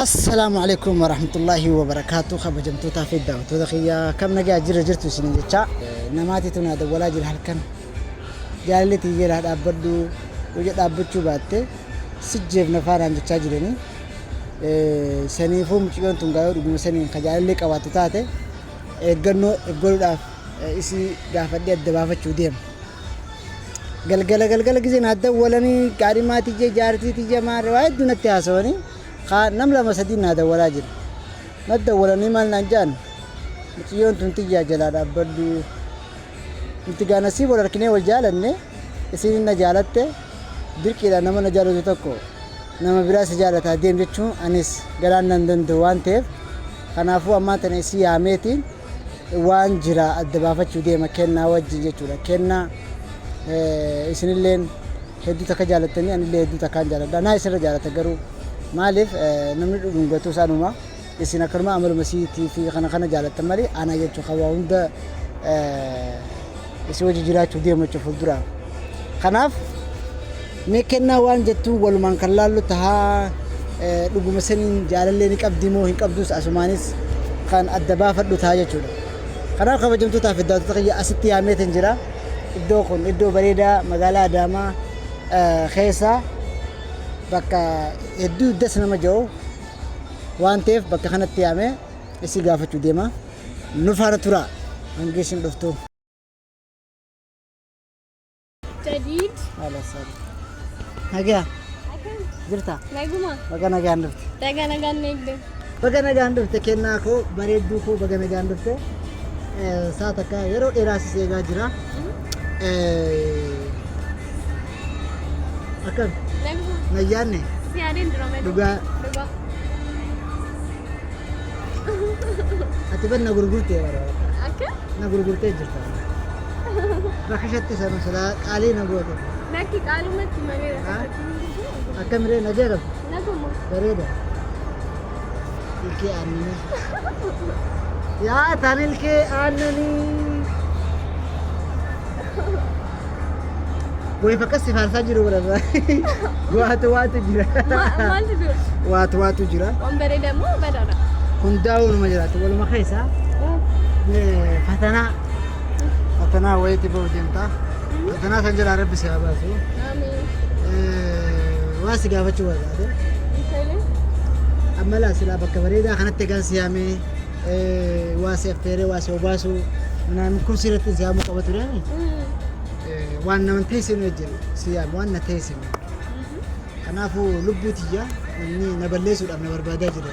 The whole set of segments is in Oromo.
Assalaamu Aleykum Warahmatullaahi Wabarakaatu Kabajamtootaa fi daawwattoota kiyya kam nagaa jirra jirtu isiniin jecha namaatiitu naa dawwalaa jira halkan jaalalli tiyyeel haa dhaabbadhu yoo dhaabbachuu baatte sijjeef nafaa naan jechaa jiranii saniifuu mucayyoon tun gaayoo dhuguma saniin ka jaalallee qabaattu taate eeggannoo eeggaluudhaaf isii gaafadhee adda baafachuu deema. Galgala galgala gisee naa dawwalanii gaadhimaa tiyya jaartii tiyya maarree waa hedduu natti haasawanii. kaa nam lama sadii naa dawalaa jira nat dawalanii maal naan ja'an miciyyoon tun tiyyaa jalaa dhaabbadhu nuti gaa nasiib wal arkinee wal jaalanne isiin na jaalatte dirqiidhaan nama na jaalatu tokko nama biraa si jaalataa deem jechuun anis garaan nan danda'u waan ta'eef kanaafuu ammaa tana isii yaameetiin waan jira adda baafachuu deema kennaa wajjin jechuudha kennaa isinilleen Hedduu takka jaalattanii anillee hedduu takkaan jaaladha. Anaa isinirra jaalata garuu maaliif namni dhudhungatus anuma isin akkanuma amaluma siitii fi kana kana jaalattan malee anaa jechuun kan waa hunda isin wajji jiraachuuf deemu jechuun fuuldura. Kanaaf mee kennaa waan jettuun walumaan kan laallu tahaa dhuguma saniin jaalallee ni qabdi moo hin qabdus asumaanis kan adda baafadhu tahaa jechuudha. Kanaaf kabajamtootaa fi daawwattoota kiyya asitti yaameetiin jira. iddoo kun iddoo bareedaa magaalaa Adaamaa keessa bakka hedduu das nama jedhu waan ta'eef bakka kanatti yaamee isii gaafachuu deema. Nu faana turaa hanga isin dhuftu. Jadiid. Haala isaanii. Nagaa Akkam? jirta? Naguma. Baga nagaan dhufte. Daga nagaan eegde. Baga nagaan dhufte kennaa koo bareedduu koo baga nagaan dhufte saa takka yeroo dheeraa si seegaa jira akkam nayyaanne dhugaa ati ban na gurgurtee bara na gurgurtee jirta rakashatti sana silaa qaalii na goote Lakki qaalumatti malee rakkachuun akkam ree na jeeqabdu Bareeda. Ilkee aannanii. Yaa tan ilkee aannanii. Way fakkas si faarsaa jiru godhata. Waatu waatu jira. Maaltu dura? Waatu waatu jira. Waan bareeda moo badaadha? Hundaa'uu numa jiraatu. Waluma keessaa eh, fatanaa. Fatanaa wayiitti ba'u deemtaa. Akkanaa kan jedhaa rabbi si haa baasu. Waan si gaafachuu barbaade. Amma laa silaa bakka bareedaa kanatti egaan si yaamee waa si affeeree waa si obaasu naan kun si irratti si yaamuu qaba ture. Waan nama teessinu wajjin si yaame waan na teessinu. Kanaafuu lubbuu tiyya inni na balleessuudhaaf na barbaadaa jira.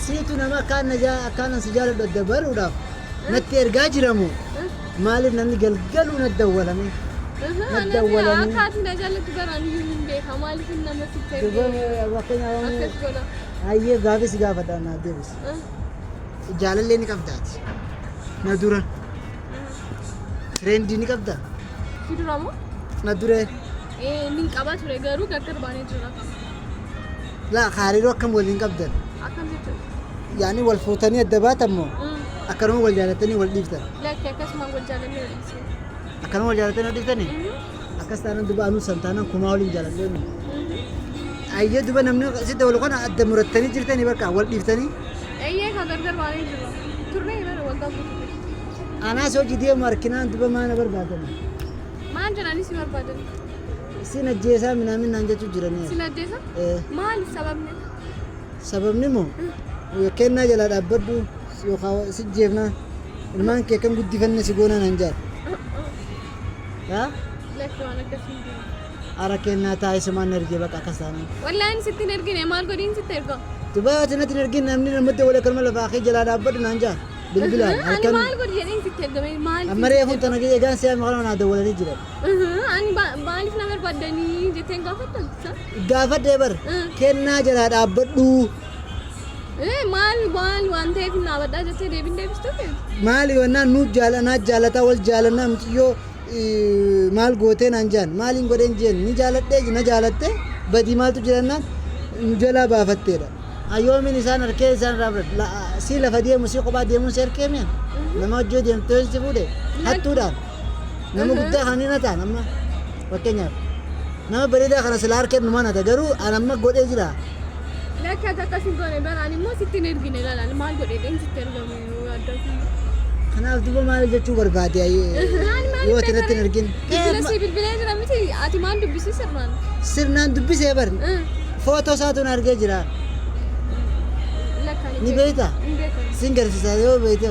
Siitu nama akkaan na jaa- akkaanan si jaaladhu adda baruudhaaf natti ergaa jiramu maaliif namni galgaluu na dawwalame na dawwalame Akkaatii na jaallattu garaan iyyuu hin beeka. Maaliif inni namatti itti Duba ergee fakkeenyaaf akkas godha? hayyee gaafii si gaafadha naaf deebisi Ah, jaalallee ni qabdaati na dura tireendii ni qabda Si dura moo? na duree Eh, inni hin qaba ture garuu gargar baanee jira. Laa akka hariiroo akkam waliin qabdan? Akkam jechuun? Yaani wal fuutanii adda baatan moo? Akkanuma wal jaalatanii wal dhiiftan? Lakki akkasuma wal jaalannee wal dhiisne. Akkanuma wal jaalatanii wal dhiiftanii? Akkas taanaan duba anuu san taanaan kumaa waliin jaaladhee nu. Ayyee duba namni sitti wal kana adda murattanii jirtanii bakka wal dhiiftanii? Eeyyee kan gargar baanee jirra. Turree bara waggaa guutuu. Anaas hojii deemu harkinaan duba maana barbaadanii? Maan jedhanii si barbaadanii? Sin ajjeesaa minaamin naan jechuu jiranii. Sin ajjeesa? Ee. Maali sababni? Sababni moo kennaa jalaa dhaabbadhu yookaan si jeefnaa ilmaan kee kan guddifanne si goonaa naan jaal. Yaa Lakki waan akkasii hin jiru. ara kennaa taa'ee sumaan na ergee bakka akkas taanaan. Wallaahi ani sitti hin ergine maal godhiin sitti erga? Dubaa ati natti hin ergin namni namatti wal akkanuma lafaa kee jalaa dhaabbadhu naan jaal. Bilbilaan Ani halkan maal godhi jedheen sitti ergame maal? amma reefuun tana eegaan si'aa maqaan naa dawwalanii jiran. Ani maaliif na barbaaddanii jetteen gaafattan? Gaafadhee bar kennaa jalaa dhaabbadhuu. Maal maal waan ta'eef hin dhaabadhaa jettee deebiin deebistuu kee? Maali wannaan nu jaalanaa jaalataa wal jaalannaa mitiyyoo maal gootee naan jaan maaliin godheen jeen ni jaaladhee na jaalattee badii maaltu jirannaan nu jalaa baafatteedha. Ayyoomiin isaan harkee isaan raafadha. Si lafa deemu si kophaa deemuun si harkee mi'a? Nama hojii deemtee si fuudhe hattuudhaan. Nama guddaa kan hin hataan amma fakkeenyaaf nama bareedaa kana silaa harkeen numaan hata garuu an amma godhee jira. Lakki ati akkas hin goone bara ani immoo sitti hin ergine lalaan maal godhe dheen sitti ergame yoo adda kun. Kanaaf duba maal jechuu barbaade yoo ati irratti hin argin. Bilbila si bilbilee jira miti ati maal dubbisii sirnaan. Sirnaan dubbisee bar footoo isaatuun argee jira. Lakka Ni beekta? Hin beekan. Sin garsiisa yoo beekte.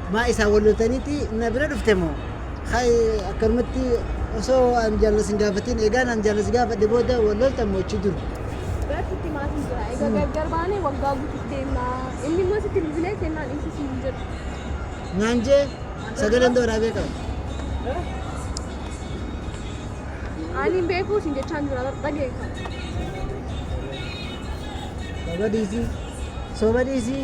Maa isaa walloltaniiti na bira dhufte moo? Hay akkanumatti osoo an jaalala sin gaafatiin eegaan an jaalala si gaafadhe booda wal loltan moo achi dur? Bar sitti maatiin jira. Egaa gargar baanee waggaa guutuuf deemna. Inni immoo sitti bilbilee kennaan dhiisuu siin hin jedhu. Naan jee sagaleen dooraa beekama. Ani hin beeku siin jechaan jira bar dhaga'e kan. Baba dhiisii. Soba dhiisii.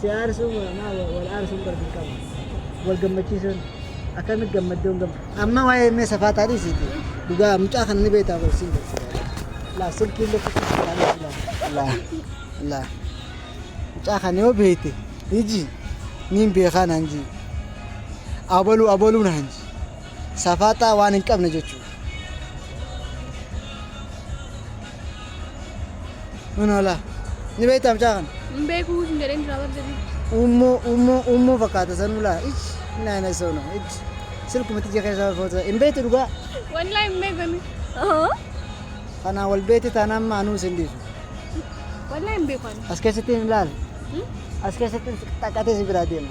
Si aarsuu maa wal aarsuun bar dirqama. Wal gammachiisuun akkamitti gammaddoon gamma. Amma waa'ee mee safaataa dhiisiiti. Dhugaa mucaa kana ni beektaa wal siin beeksisa. Laa silkii illee kutu safaataa dhiisila. Laa laa mucaa kana yoo beekte iji niin beekaa naan jii. Abaluu abaluu naan jii. Safaaxaa waan hin qabne jechuudha. Manoolaa. Ni beektaa mucaa kana? Hin beeku hin jedheen jira barda bitti. Uummoo uummoo uummoo fakkaata sanuu laa. Ish naana isoo nama. Ish silkumatti ija keessaa foota. Hin beektu dhugaa. Wallaahi hin beeku inni. Kanaa wal beekte taanaan maa anuu isin dhiisu. Wallaahi hin beeku ani. As keessatti hin ilaali. As keessatti xaqqatee si biraa deema.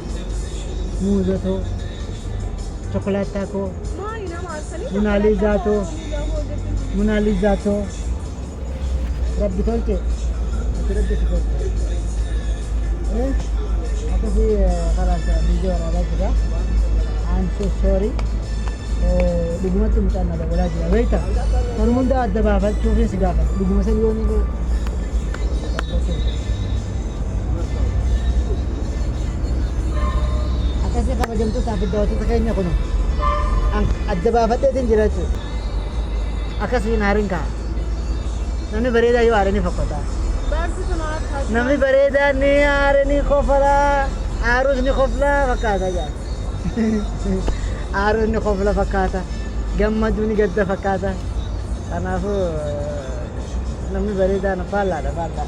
muuza too chokolaattaa koo Maali nama arsanii Munaaliizaa too Munaaliizaa too rabbi tolche ati rabbi si tolche Eh, akkasii eh, kalaas viidiyoo waraabaa jira I'm so sorry Eh, dhugumatti mucaan na dabalaa jira beekta kan hunda adda baafachuufin si gaafadha dhuguma san yoo ni Akkasii kabajamtootaa fi daawwattoota keenya kun adda baafadheetiin jira jechuudha. Akkasii hin haarin ka'a. Namni bareedaa yoo haare ni fokkota. Namni bareedaa ni haare ni kofala. Haarus ni kofla fakkaata jaa. Haarus ni kofla fakkaata. Gammaduu ni gadda fakkaata. Kanaafuu namni bareedaan faallaadha faallaa.